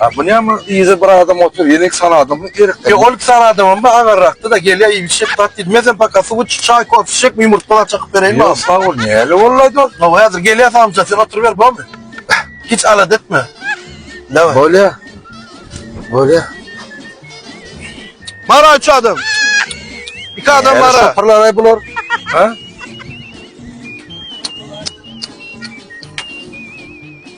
A bu näme yza bir adam otyr ýene iki sany adam gerek. Ýok ol iki sany adamam bar agarrakda-da gelýär iýip içýär zat diýmezem paka suw içip çaý kofe içjek mi ýumurtga zat çakyp bereýinmi agam. Ýok sagbol näle boldy aýt ol. Hawa häzir gelýär samsyk sen oturyber bormy. Hiç alada etme. Daway. Bolýar. Bolýar. Bara üç adam. İki adam Näle bara. şopurlar aý bular. Ha?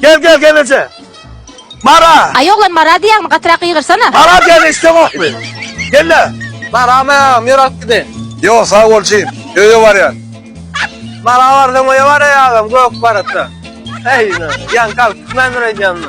Gel gel gelece. Mara. Aý oglan mara diýäňmi gatyrak gygyrsana. Mara diýeni eşdeňokmy? Gelle. Maramy ýer alyp gidin. Ýok sag bol jigim. Öýe barýan. Mara barsaň öýe baraýagam gök baratda. Eý, ýaňky alyp gitmändir eýýämmi?